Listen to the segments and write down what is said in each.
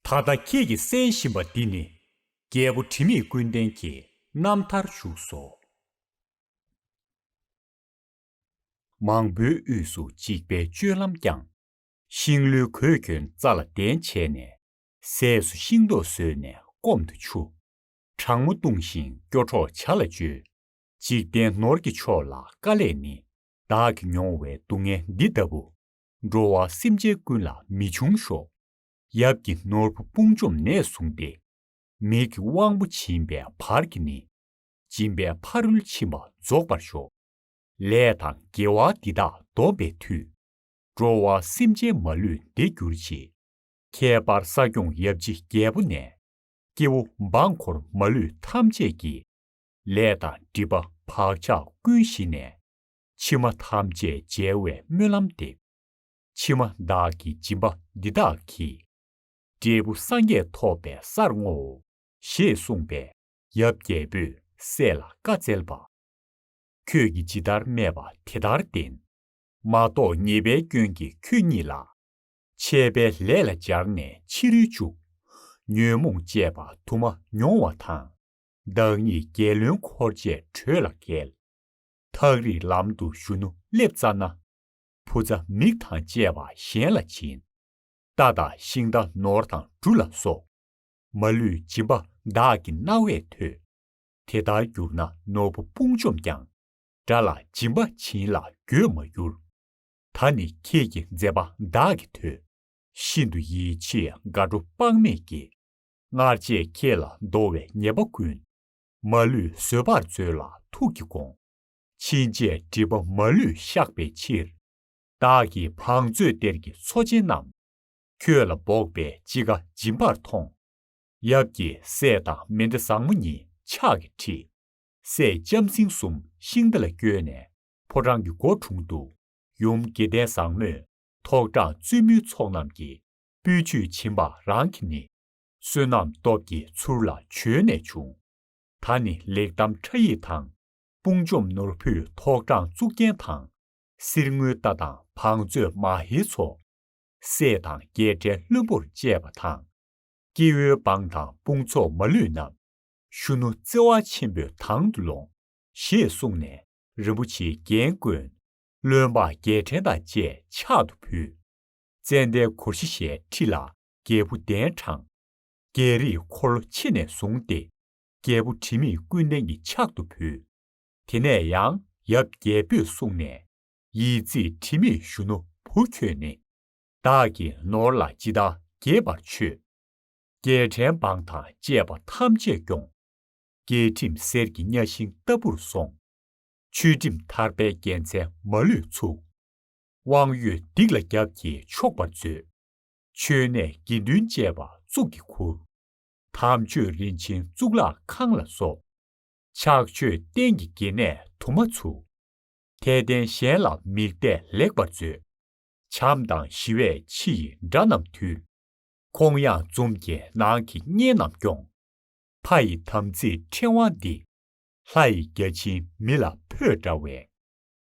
ད་ལྟ་ཁྱེད་ཀྱིས་གསན་བཞིན་པ་འདི་ནི། རྒྱལ་པོ་དྲི་མེད་ཀུན་ལྡན་གྱི་རྣམ་ཐར་བཞུགས་སོ། མང་པོའི་དབུས་སུ་འཇིགས་པའི་སྤྱོད་ལམ་བསྐྱངས། ཤིང་ལོའི་གོས་གྱོན་རྩ་ལ་གདན་བྱས་ནས། ཟས་སུ་ཤིང་ཏོག་བཟོས་ནས་སྐོམ་དུ་ཆུ། གྲང་མོ་བཏུང་ཞིང་སྐྱོ་གྲོགས་བྱ་ལ་སྤྱོད། འཇིག་རྟེན་ནོར་གྱི་མཆོག་ལ་དཀའ་ལས་ནི། བདག་གི་མྱོང་བའི་སྡུག་བསྔལ་འདི་ལྟ་བུ། འགྲོ་བ་སེམས་ཅན་ཀུན་ལ་མི་འབྱུང་ཤོག། ཡབ་ཀྱི་ནོར་བུ་དཔུང་འཇོམས་ནད་བསྲུང་སྟེ། མིག་གི་དབང་པོ་བྱིན་པའི་བར་གྱིས་ནི། སྦྱིན་པའི་ཕ་རོལ་ཕྱིན་པ་རྫོགས་པར་ཤོག། ལས་དང་དགེ་བ་འདི་དག་སྡོམ་པའི་མཐུས། འགྲོ་བ་སེམས་ཅན་མ་ལུས་བདེ་འགྱུར་ཆེད། ཁྱད་པར་ས་སྐྱོང་ཡབ་རྗེ་རྒྱལ་པོ་ནས། སྐྱེ་བོ་འབངས་འཁོར་མ་ལུས་ཐམས་ཅད་ཀྱི། ལས་དང་སྒྲིབ་པ་བག་ཆགས་ཀུན་ཞི་ནས། ཕྱི་མ་ཐམས་ཅད་འཇལ་བའི་སྨོན་ལམ་འདེབས། ཕྱི་མ་བདག་གི་སྦྱིན་པ་འདི་དག་གིས། འབྲས་བུ་སངས་རྒྱས་ཐོབ་པའི་སར་བསྔོའོ། ཞེས་གསུངས་པས་ཡབ་རྒྱལ་པོས་སྲས་ལ་བཀའ་སྩལ་པ། ཁྱོད་ཀྱིས་ཇི་ལྟར་སྨྲས་པ་དེ་ལྟར་བདེན། མ་རྟོགས་ཉེས་པའི་སྐྱོན་གྱིས་ཁྱོད་ཉིད་ལ། ཆད་པའི་ལས་ལ་སྦྱར་ནས་ཕྱི་རོལ་བཅུག། ཉོན་མོངས་བཅས་པ་དུ་མ་མྱོང་བ་དང། བདག་ཉིད་རྒྱལ་བློན་འཁོར་བཅས་བྲོས་ལ་བརྒལ། ཐག་རིང་ལམ་དུ་གཞོན་ནུ་སླེབ་ཙྪ་ན། བུ་ཚ་མིག་དང་བཅས་པ་གཞན་ལ་བྱིན། རྟ་དང་ཤིང་རྟ་ནོར་དང་འབྲུ་ལ་སོགས། མ་ལུས་སྦྱིན་པ་བདག་གི་རྣ་བས་ཐོས། དེ་ལྟར་གྱུར་ན་ནོར་བུ་དཔུང་བཅོམ་ཀྱང། དགྲ་ལ་སྦྱིན་པ་བྱིན་ལ་འགྱོད་མ་འགྱུར། ད་ནི་ཁྱེད་ཀྱི་མཛད་པ་བདག་གིས་ཐོས། ཤིན་ཏུ་ཡིད་ཆེས་དགའ་སྤྲོ་དཔག་མེད་སྐྱེས། སྔར་བྱས་ཁྱེད་ལ་འདོར་བའི་ཉེས་པ་ཀུན། མ་ལུས་བཟོད་པར་མཛོད་ལ་ཐུགས་ཀྱི་དགོངས། ཕྱིན་ཆད་སྒྲིབ་པ་མ་ལུས་བཤགས་པའི་ཕྱིར། བདག་གིས་བང་མཛོད་གཏེར་གྱི་མཚོ་ཆེན་རྣམས། ཁྱོད་ལ་འབོགས་པའི་ཅི་དགའ་སྦྱིན་པར་ཐོངས། ཡབ་ཀྱི་སྲས་དང་མེ་མདའ་བཟང་མོ་གཉིས་ཕྱག་གིས་ཁྲིད། སྲས་ལྕམ་སྲིང་གསུམ་ཤིང་རྟ་ལ་བསྐྱོད་ནས་ཕོ་བྲང་གི་སྒོ་དྲུང་དུ། ཡུམ་དགེ་ལྡན་བཟང་མོས་ཐོག་དྲངས་བཙུན་མོའི་ཚོགས་རྣམས་ཀྱིས་སྤོས་ཆུས་བྱིན་པ་རང་གིས་ནི། བསོད་ནམས་སྟོབས་ཀྱིས་ཚུར་ལ་བྱོན་ནས་བྱུང། ད་ནི་ལེགས་བསྡམས་ཁྲ་ཡིག་དང། དཔུང་འཇོམས་ནོར་བུས་ཐོག་དྲངས་གཙུག་རྒྱན་དང། གསེར་དངུལ་རྟ་དང་བང་མཛོད་མ་ཧེའི་ཚོགས། སྲས་དང་རྒྱལ་ཕྲན་བློན་པོར་བཅས་པ་དང། སྐྱེ་བོའི་འབངས་དང་དཔུང་ཚོགས་མ་ལུས་རྣམས། གཞོན་ནུ་བརྩེ་བ་ཆེན་པོས་དང་དུ་ལོངས། ཞེས་གསུངས་ནས་རིན་པོ་ཆེའི་རྒྱན་བཀོད། བློན་འབངས་རྒྱལ་ཕྲན་དང་བཅས་ཕྱག་ཏུ་ཕུལ། ཙནྡན་གོར་བཞི་ཞལ་ཁྲིད་ལ་རྒྱལ་བུ་གདན་དྲངས། རྒྱལ་རིགས་འཁོར་ལོ་ཕྱི་ནས་བཟུང་སྟེ། རྒྱལ་པོ་དྲི་མེད་ཀུན་ལྡན་གྱི་ཕྱག་ཏུ་ཕུལ། དེ་ནས་ཡང་ཡབ་རྒྱལ་པོས་གསུངས་ནས། ཡིད་རྩེས་དྲི་མེད་གཞོན་ནུ་བུ་ཁྱོད་ནི། བདག་གི་ནོར་ལ་ཅི་བདག་དགྱེས་པར་མཆོད། རྒྱལ་ཕྲན་འབངས་དང་བཅས་པ་ཐམས་ཅད་སྐྱོངས། རྒྱལ་ཁྲིམས་གསེར་གྱི་གཉའ་ཤིང་ལྟ་བུར་སོང། ཆོས་ཁྲིམས་ཐར་པའི་རྒྱལ་མཚན་མ་ལུས་ཚུགས། དབང་ཡོད་སྡིག་ལ་རྒྱབ་ཀྱིས་ཕྱོགས་པར་མཛོད། མཆོད་གནས་དགེ་འདུན་བཅས་པ་གཙུག་གི་གུར། དམ་ཆོས་རིན་ཆེན་གཙུག་ལག་ཁང་ལ་སོགས། ཕྱག་མཆོད་རྟེན་གྱི་དགེ་གནས་དུ་མ་ཚུགས། དད་ལྡན་གཞན་ལ་མིག་གཏད་ལེགས་པར་མཛོད། བྱམས་དང་ཞི་བས་ཕྱི་ཡི་དགྲ་རྣམས་ཐུལ། ཁོང་ཡངས་འཛུམ་རྒྱས་ནང་གི་གཉེན་རྣམས་སྐྱོང། ཕ་ཡི་དམ་ཚིག་ཕྲེང་བ་འདི། ལྷ་ཡི་བརྒྱ་བྱིན་མི་ལ་འཕོས་འདྲ་བའི།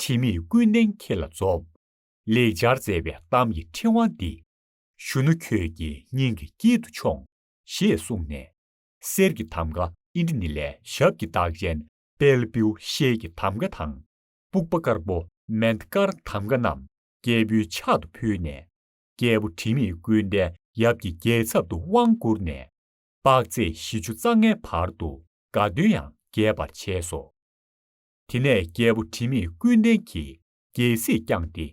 དྲི་མེད་ཀུན་ལྡན་ཁྱེད་ལ་རྫོགས། ལེགས་སྦྱར་མཛད་པའི་གཏམ་གྱི་ཕྲེང་བ་འདི། གཞོན་ནུ་ཁྱོད་ཀྱི་སྙིང་གི་དཀྱིལ་དུ་ཆོངས། ཞེས་གསུངས་ནས། གསེར་གྱི་ཐམ་ག་ཨིན་དྲི་ནི་ལས་ཞབས་ཀྱི་རྟགས་ཅན་དཔལ་བེའུ་ཤེལ་གྱི་ཐམ་ག་དང། པུག་པ་དཀར་པོ་མན་དཀར་ཐམ་ག་རྣམས་རྒྱལ་པོའི་ཕྱག་ཏུ་ཕུལ་ནས། རྒྱལ་པོ་དྲི་མེད་ཀུན་ལྡན་ཡབ་ཀྱི་རྒྱལ་ཚབ་ཏུ་དབང་བསྐུར་ནས། དཔག་ཚད་བཞི་བཅུ་རྩ་ལྔའི་བར་དུ་དགའ་སྟོན་ཡང་རྒྱས་པར་བྱས་སོ། དེ་ནས་རྒྱལ་པོ་དྲི་མེད་ཀུན་ལྡན་གྱིས་རྒྱལ་སྲིད་བསྐྱངས་ཏེ།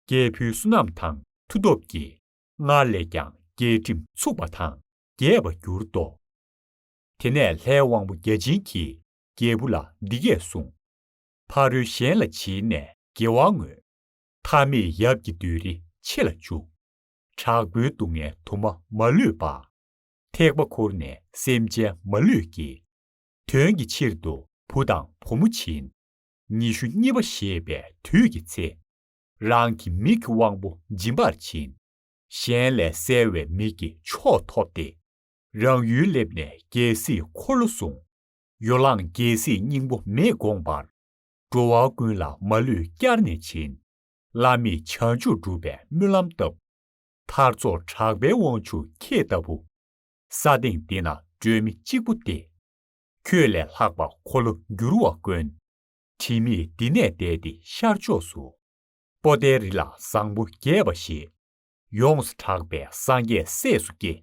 རྒྱལ་བུ་བསོད་ནམས་དང་མཐུ་སྟོབས་ཀྱིས། སྔར་ལས་ཀྱང་རྒྱལ་ཁྲིམས་ཚུགས་པ་དང་རྒྱས་པར་གྱུར་ཏོ། དེ་ནས་ལྷའི་དབང་པོ་བརྒྱ་བྱིན་གྱིས་རྒྱལ་བུ་ལ་འདི་སྐད་གསུངས། ཕ་རོལ་གཞན་ལ་བྱིན་ནས་དགེ་བ་བསྔོས། མཐའ་མེད་ཡབ་ཀྱི་བདུད་རི་ཕྱེ་ལ་བཅུག། དྲག་པོའི་སྡུག་བསྔལ་དུ་མ་མ་ལུས་པ། ཐེག་པ་ཁུར་ནས་སེམས་ཅན་མ་ལུས་ཀྱི། དོན་གྱི་ཕྱིར་དུ་བུ་དང་བུ་མོ་བྱིན། ཉི་ཤུ་གཉིས་པ་ཞེས་པའི་དུས་ཀྱི་ཚེ། རང་གི་མིག་གི་དབང་པོ་འབྱིན་པར་བྱིན། གཞན་ལས་གསལ་བའི་མིག་གི་མཆོག་ཐོབ་སྟེ། རང་ཡུལ་སླེབས་ནས་རྒྱལ་སྲིད་འཁོར་ལོ་བཟུང། ཡོ་ལང་རྒྱལ་སྲིད་སྙིང་པོ་མི་དགོངས་པར། འགྲོ་བ་ཀུན་ལ་མ་ལུས་བསྐྱར་ནས་བྱིན། བླ་མེད་བྱང་ཆུབ་སྒྲུབ་པའི་སྨོན་ལམ་བཏབ། མཐར་རྫོགས་གྲགས་པའི་དབང་ཕྱུག་ཁྱེད་ལྟ་བུ། ས་སྟེང་འདི་ན་སྤྲོས་མེད་གཅིག་པུ་སྟེ། ཁྱོད་ལས་ལྷག་པ་འཁོར་ལོ་བསྒྱུར་བ་དཀོན། ཁྲིམས་མེད་འདི་ནས་བསྡད་དེ་ཤར་ཕྱོགས་སུ། པོ་ཏའི་རི་ལ་བཟང་པོ་རྒྱས་པ་ཞེས། ཡོངས་སུ་གྲགས་པའི་སངས་རྒྱས་སྲས་སུ་སྐྱེས།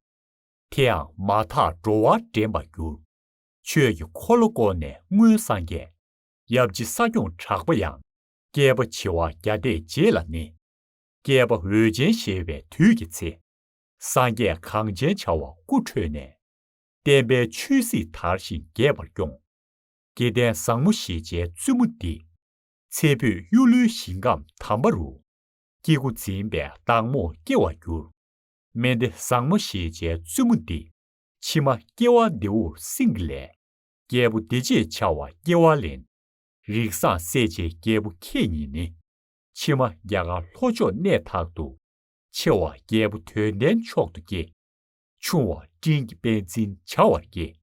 དེའང་མ་ཐག་འགྲོ་བ་འདྲེན་པར་གྱུར། ཆོས་ཀྱི་འཁོར་ལོ་བསྐོར་ནས་སྔོན་སངས་རྒྱས། ཡབ་རྗེ་ས་སྐྱོང་གྲགས་པ་ཡང། བསྐལ་པ་བྱེ་བ་བརྒྱ་འདས་རྗེས་ལ་ནི། བསྐལ་པ་འོད་ཅན་གཞལ་བའི་དུས་ཀྱི་ཚེ། སངས་རྒྱས་གངས་ཅན་བྱ་བ་སྐུ་འཕྲོས་ནས། བསྟན་པའི་ཆོས་སྲིད་དར་ཞིང་རྒྱས་པར་སྐྱོངས། སྐྱེ་ལྡན་བཟང་མོ་ཤེས་བྱའི་བཙུན་མོ་འདི། ཚེ་འཕོས་གཡུ་ལོའི་ཞིང་ཁམས་དམ་པ་རུ། སྐྱེ་དགུ་འཛིན་པའི་བདག་མོ་སྐྱེ་བར་འགྱུར། སྨན་སྡེ་བཟང་མོ་ཤེས་བྱའི་བཙུན་མོ་འདི། ཕྱི་མ་སྐྱེ་བ་རྡེའུ་སྲིན་གྱི་ལས། རྒྱལ་པོ་བདེ་བྱེད་བྱ་བ་སྐྱེ་བ་ལེན། རིགས་བཟང་སྲས་བཅས་རྒྱལ་པོ་ཁྱེད་ཉིད་ནི། ཕྱི་མ་རྒྱ་གར་ལྷོ་ཕྱོགས་གནས་དག་ཏུ། ཆེ་བ་རྒྱལ་པོ་དོན་ལྡན་མཆོག་ཏུ་སྐྱེ། ཆུང་བ་སྤྲིན་གྱི་དཔལ་འཛིན་བྱ་བར་སྐྱེ།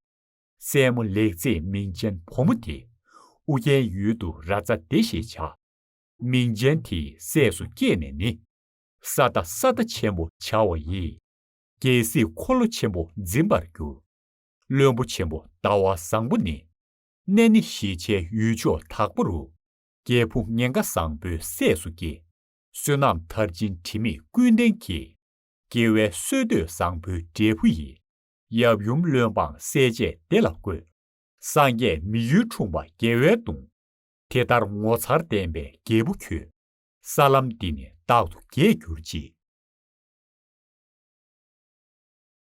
སྲས་མོ་ལེགས་མཛེས་མིང་ཅན་བུ་མོ་དེ། ཨུ་རྒྱན་ཡུལ་དུ་ར་ཙ་ཏེ་ཞེས་བྱ། མིང་ཅན་དེའི་སྲས་སུ་སྐྱེས་ནས་ནི། ས་བདག་ས་བདག་ཆེན་པོ་བྱ་བ་ཡིས། རྒྱལ་སྲིད་འཁོར་ལོ་ཆེན་པོ་འཛིན་པར་འགྱུར། བློན་པོ་ཆེན་པོ་ཟླ་བ་བཟང་པོ་ནི། གནས་ནི་ཞེས་བྱའི་ཡུལ་ཕྱོགས་དག་པོ་རུ། རྒྱལ་བུ་ངན་དགའ་བཟང་པོའི་སྲས་སུ་སྐྱེ། བསོད་ནམས་མཐར་ཕྱིན་དྲི་མེད་ཀུན་ལྡན་གྱིས། སྐྱེ་བའི་སྲོལ་གཏོད་བཟང་པོའི་འབྲས་བུ་ཡིན། ཡབ་ཡུམ་བློན་འབངས་སྲས་བཅས་བདེ་ལ་བཀོད། སངས་རྒྱས་མི་ཡུལ་འཁྲུངས་པ་རྒྱལ་བའི་གདུང། དེ་ལྟར་ངོ་མཚར་བསྟན་པའི་རྒྱལ་པོ་ཁྱོད། ས་ལམ་འདི་ནས་རྟག་ཏུ་རྒྱས་གྱུར་ཅིག།